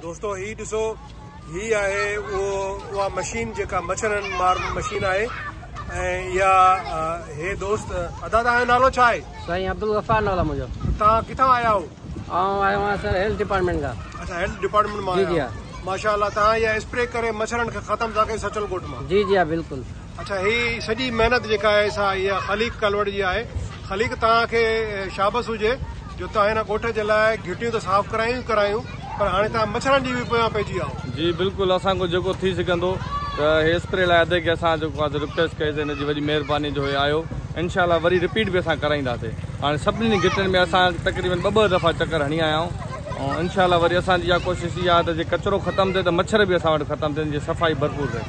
دوستو هي ڏسو هي آهي اهو اها مشين جيڪا مڇرن مار مشين آهي ۽ اها هي دوست ادا تان جو نالو ڇا آهي سائين عبدالغفار نالو آهي منهنجو تان ڪٿان آيا آهو آئون آيو آهيان سر هيلٿ ڊپارٽمنٽ کان اچھا هيلٿ ڊپارٽمنٽ مان جي جي ماشاءالله تان اها اسپري ڪري مڇرن کي ختم ٿا ڪيو سچل ڳوٺ مان جي جي ها بلڪل اڇا هي سڄي محنت جيڪا آهي سا اها خليق ڪالوڙ جي آهي خليق توهان کي شابس هجي جو توهان هن ڳوٺ جي لاء گهٽيون ته صاف ڪرايون ئي ڪرايون پر هاڻي توهان مڇرن جي به پويان پئجي ويا آهو. جي بلڪل اسان کان جيڪو ٿي سگهندو ته هي اسپري لاء ادي کي اسان جيڪو آهي سو رڪويسٽ ڪئي سي هن جي وڏي مهرباني جو هي آيو انشاء الله وري رپيٽ به اسان ڪرائيندا سي هاڻي سڀني گهٽين ۾ اسان تقريبن ٻه ٻه دفعا چڪر هڻي آيا آهيون انشاء الله وري اسان جي اها ڪوشش اها آهي ته جي ڪچرو ختم ٿئي ته مڇر به اسان وٽ ختم ٿين جي صفائي ڀرپور رهي.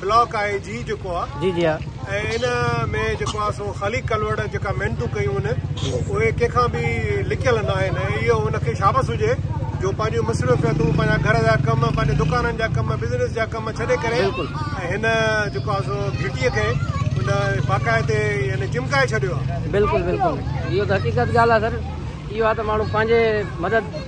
بلاڪ آء جي جيڪو آ جي جي ان ۾ جيڪو آ سو خالي ڪلوڙ جيڪا محنتون ڪيون ان اهي ڪنهن کان به لڪيل نه آهن اهو ان کي شابس هجي جو پنهنجو مصروفيتون پنهنجا گهر جا ڪم پنهنجي دڪانن جا ڪم بزنس جا ڪم ڇڏي ڪري ۽ هن جيڪو آ سو گهٽي کي ان باقاعدي يعني چمڪائي ڇڏيو آ بلڪل بلڪل اهو ته حقيقت ڳالهه آ سر اهو آ ته ماڻهو پنهنجي مدد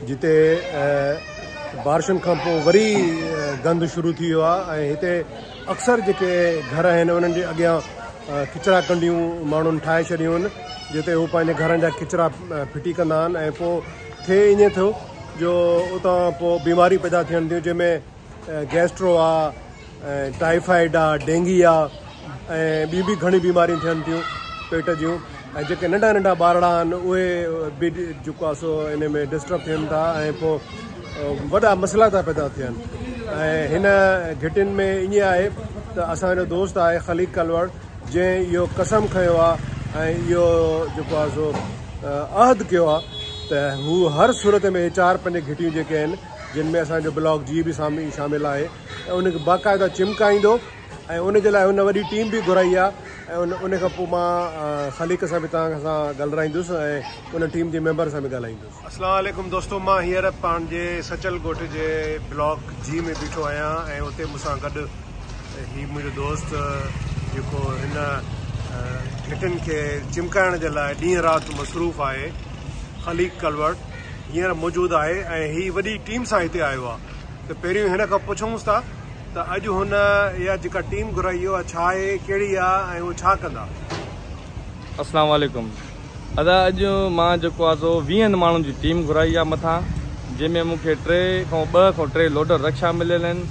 جتي بارشن کان پوء وري گند شروع ٿي ويو آهي ۽ هتي اڪثر جيڪي گهر آهن انهن جي اڳيان ڪچرا ڪنڊيون ماڻهن ٺاهي ڇڏيون آهن جتي هو پنهنجي گهرن جا ڪچرا ڦٽي ڪندا آهن ۽ پوء ٿئي ائين ٿيو جو اتان پوء بيماريون پيدا ٿين ٿيون جنهن ۾ گيسٽرو آ ۽ ٽائيفائيڊ آ، ڊينگي آ ۽ ٻيون به گهڻيون بيماريون ٿين ٿيون پيٽ جون ۽ جيڪي ننڍا ننڍا ٻارڙا آهن اهي به جيڪو آ سو ان ۾ ڊسٽرب ٿين ٿا ۽ پوء وڏا مسئلا ٿا پيدا ٿين ۽ هن گهٽين ۾ ائين آهي ته اسان جو دوست آهي خليق ڪلوڙ جنهن اهو قسم کنيو آ ۽ اهو جيڪو آ سو عهد ڪيو آ ته هو هر صورت ۾ اهي چار پنج گهٽيون جيڪي آهن جن ۾ اسان جو بلاڪ جي به شامل آهي ۽ ان کي باقاعده چمڪائيندو ۽ ان جي لاء هن وڏي ٽيم به گهرائي آهي ۽ ان کان پوء مان خليق سان به توهان سان ڳالرائيندس ۽ ان ٽيم جي ميمبر سان به ڳالهائيندس. السلام عليڪم دوستو مان هينئر پنهنجي سچل ڳوٺ جي بلاڪ جي ۾ بيٺو آهيان ۽ اتي مون سان گڏ هي منهنجو دوست جيڪو هن گهٽين کي چمڪائڻ جي لاء ڏينهن رات مصروف آهي خليق ڪلوڙ هينئر موجود آهي ۽ هي وڏي ٽيم سان هتي آيو آهي ته پهريون هن کان پڇونس ٿا ته اڄ هن اها جيڪا ٽيم گهرائي اها ڇا آهي ڪهڙي آهي ۽ هو ڇا ڪندا. السلام عليڪم ادا اڄ مان جيڪو آهي سو ويهن ماڻهن جي ٽيم گهرائي آهي مٿان جنهن ۾ مون کي ٽي کان ٻه کان ٽي لوڊر رڪشا مليل آهن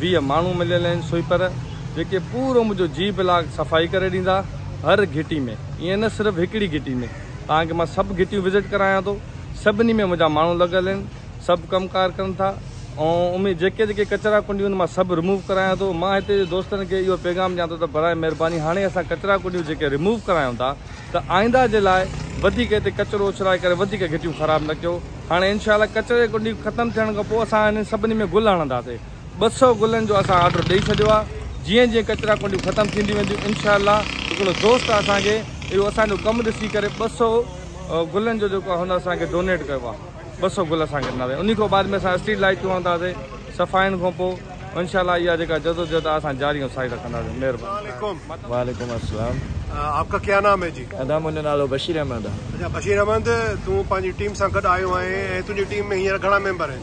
ويهه ماڻهو مليل آهن سوئپر جيڪي پورو منهنجو جي بلاڪ صفائي ڪري ڏيندا هر گهٽي ۾ ائين نه صرف هڪڙي گهٽي ۾ توهان کي مان سڀ گهٽيون وزٽ ڪرايان ٿو سڀني ۾ منهنجا ماڻهو لڳل آهن سڀ ڪم ڪار ڪن ٿا ۽ ان ۾ جيڪي جيڪي ڪچرا ڪنڊيون آهن مان سڀ رموو ڪرايان ٿو مان هتي جي دوستن کي اهو پيغام ڏيان ٿو ته براء مهرباني هاڻي اسان ڪچرا ڪنڊيون جيڪي رموو ڪرايون ٿا ته آئنده جي لاء وڌيڪ هتي ڪچرو اڇلائي ڪري وڌيڪ گهٽيون خراب نه ڪيو هاڻي انشاء الله ڪچري جي ڪنڊيون ختم ٿيڻ کان پوء اسان انهن سڀني ۾ گل هڻنداسين ٻه سؤ گلن جو اسان آرڊر ڏئي ڇڏيو آ جيئن جيئن ڪچرا ڪنڊيون ختم ٿينديون وينديون انشاء الله هڪڙو دوست آ اسان کي اهو اسان جو ڪم ڏسي ڪري ٻه سؤ گلن جو جيڪو هن اسان کي ڊونيٽ ڪيو آ ٻه سؤ گل اسان کي ڏنا ويا انهي کان بعد ۾ اسان اسٽريٽ لائيٽون هڻنداسين صفائين کان پوء انشاء الله اها جيڪا جدوجهد آ اسان جاري ۽ ساري رکنداسين مهرباني وعليڪم السلام آپ کا ڪيا نام هي جي ادا منهنجو نالو بشير احمد آ اچا بشير احمد تون پنهنجي ٽيم سان گڏ آيو آهين ۽ تنهنجي ٽيم ۾ هينئر گهڻا ميمبر آهن.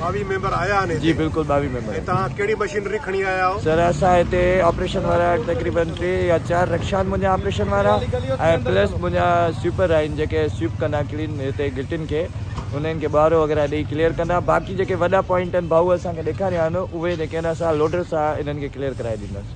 ٻاويهه ميمبر آيا آهن هتي جي بلڪل ٻاويهه ميمبر ۽ توهان ڪهڙي مشينري کڻي آيا آهو سر اسان هتي آپريشن وارا تقريبن ٽي يا چار رڪشا آهن منهنجا آپريشن وارا ۽ پلس منهنجا سوئپر آهن جيڪي سوئپ ڪندا ڪلين هتي گهٽين کي انهن کي ٻوهارو وغيره ڏئي ڪليئر ڪندا باقي جيڪي وڏا پوائنٽ آهن ڀائو اسان کي ڏيکاريا آهن اهي جيڪي آهن اسان لوڊر سان انهن کي ڪليئر ڪرائي ڏينداسين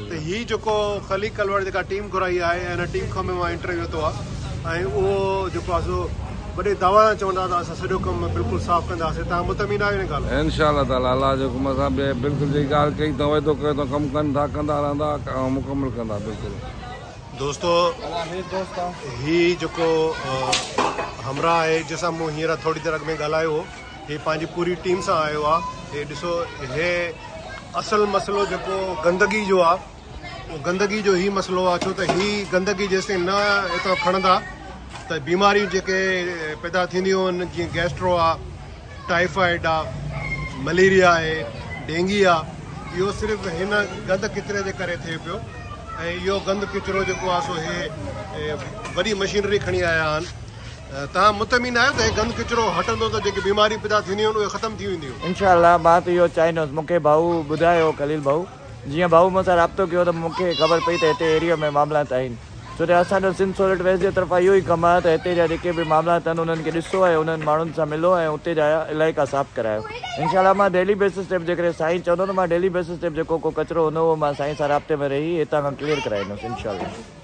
ته هي جيڪو خليق ڪلوڙ جيڪا ٽيم گهرائي آهي ۽ ان ٽيم کان به مان انٽرويو ورتو آهي ۽ اهو جيڪو آهي سو وڏي دعويٰ سان چون ٿا ته اسان سڄو ڪم بلڪل صاف ڪنداسين تهان مطمئن آهيو ان ڳالهه ۾؟ انشاء الله تعالٰي الله جي حڪم سان به بلڪل جيڪي ڳالهه ڪئي اٿئون وعدو ڪيو اٿئون ڪم ڪن ٿا ڪندا رهندا ۽ مڪمل ڪندا بلڪل. دوستو هي جيڪو همراهه آهي جنهن سان مون هينئر ٿوري دير اڳ ۾ ڳالهايو هو هي پنهنجي پوري ٽيم سان آيو آ هي ڏسو هي اصل مسئلو جيڪو گندگي جو آ او گندگي جو هي مسئلو آ ڇو ته هي گندگي جيستائين نه اتان کڻندا ته بيماريون جيڪي پيدا ٿينديون آهن جيئن گيسٽرو آ ٽائيفائيڊ آ مليريا آهي ڊينگي آ اهو صرف هن گند ڪچري جي ڪري ٿئي پيو ۽ اهو گند ڪچرو جيڪو آ سو هي وڏي مشينري کڻي آيا آهن تاھم مطمئن آھيو ته ھي گند ڪچرو ھٽندو ته جيڪي بيماريون پيدا ٿينديون آھن اھي ختم ٿي وينديون. انشاء الله مان ته اھو چاھيندس مون کي ڀائو ٻڌايو ھو خليل ڀائو جيئن ڀائو مون سان رابطو ڪيو ته مون کي خبر پئي ته ھتي ايريو ۾ معاملات آھن ڇو ته اسان جو سنڌ سولٽ ويسٽ جي طرفان اھو ئي ڪم آھي ته ھتي جا جيڪي به معاملات اھن انھن کي ڏسو ۽ انھن ماڻھن سان ملو ۽ اتي جا علائقا صاف ڪرايو انشاء الله مان ڊيلي بيسس تي به جيڪڏھن سائين چوندو ته مان ڊيلي بيسس تي به جيڪو ڪو ڪچرو ھوندو اھو مان سائين سان رابطي ۾ رھي ھتان کان ڪليئر ڪرائيندس انشاء الله.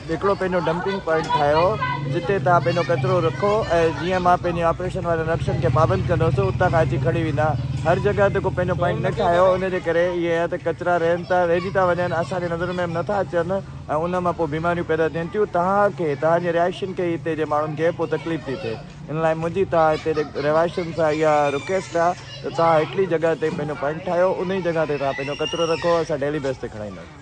هڪڙو پنهنجو ڊمپنگ پوائنٽ ٺاهيو جتي توهان پنهنجو ڪچرو رکو ۽ جيئن مان پنهنجي آپريشن وارن نقشن کي پابند ڪندس اتان کان اچي کڻي ويندا هر جڳهه تي ڪو پنهنجو پوائنٽ نه ٺاهيو ان جي ڪري اهي يا ته ڪچرا رهن ٿا رهجي ٿا وڃن اسان جي نظرن ۾ به نٿا اچن ۽ ان مان پوء بيماريون پيدا ٿين ٿيون توهان کي توهان جي رهائشين کي هتي جي ماڻهن کي پوء تڪليف ٿي ٿئي ان لاء منهنجي توهان هتي جي رهواشين سان اها رڪويسٽ آهي ته توهان هڪڙي جڳهه تي پنهنجو پوائنٽ ٺاهيو انهي جڳهه تي توهان پنهنجو ڪچرو رکو اسان ڊيلي بيس تي کڻائينداسين.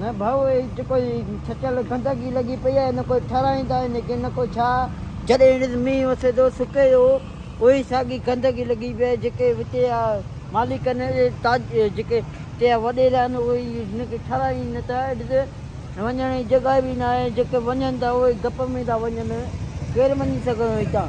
نه ڀائو هي جيڪو هي سچل گندگي لڳي پئي آهي نه ڪو ٺهرائيندا آهن ڪي نه ڪو ڇا. جڏهن هن تي مينهن وسي ٿو سڪي ٿو اهو ئي ساڳي گندگي لڳي پئي آهي جيڪي هتي جا مالڪ آهن تاج جيڪي هتي جا وڏيرا آهن اهي ئي هن کي ٺهرائين نه ٿا هيٺ تي وڃڻ جي جڳهه به ناهي جيڪي وڃن ٿا اهي گپ ۾ ٿا وڃن ڪير وڃي سگهندو هتان.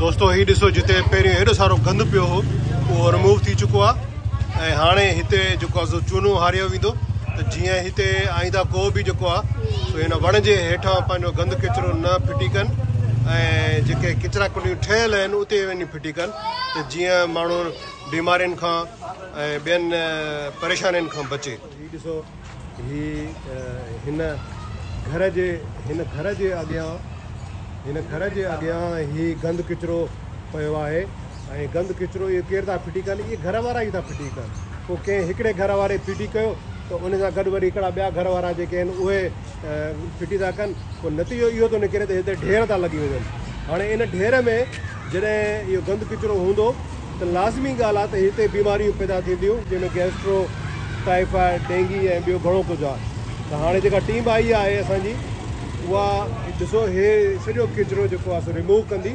دوستو هي ڏسو جتي پهريون هيڏو سارو گند پيو هو اهو رموو ٿي چڪو آ ۽ هاڻي هتي جيڪو آ سو چونو هاريو ويندو ته جيئن هتي آئنده ڪو به جيڪو آ سو هن وڻ جي هيٺان پنهنجو گند ڪچرو نه ڦٽي ڪن ۽ جيڪي ڪچرا ڪنڊيون ٺهيل آهن اتي وڃي ڦٽي ڪن ته جيئن ماڻهو بيمارين کان ۽ ٻين پريشانين کان بچي هي ڏسو هي هن گهر جي هن گهر جي اڳيان هن گهر جي اڳيان هي گند ڪچرو پيو آهي ۽ گند ڪچرو اهو ڪير ٿا ڦٽي ڪن اهي گهر وارا ئي ٿا ڦٽي ڪن پوء ڪنهن هڪڙي گهر واري ڦٽي ڪيو ته ان سان گڏ وري هڪڙا ٻيا گهر وارا جيڪي آهن اهي ڦٽي ٿا ڪن پوء نتيجو اهو ٿو نڪري ته هتي ڍير ٿا لڳي وڃن هاڻي ان ڍير ۾ جڏهن اهو گند ڪچرو هوندو ته لازمي ڳالهه آهي ته هتي بيماريون پيدا ٿينديون جنهن ۾ گيسٽرو ٽائيفائيڊ ڊينگي ۽ ٻيو گهڻو ڪجهه آهي ته هاڻي جيڪا ٽيم آئي آهي اسان جي اها ڏسو هي سڄو ڪچرو جيڪو آهي سو ريموو ڪندي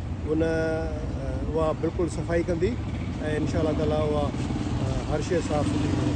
ان اها بلڪل صفائي ڪندي ۽ انشاء الله تعالي اها هر شيء صاف سٿري ڪندي.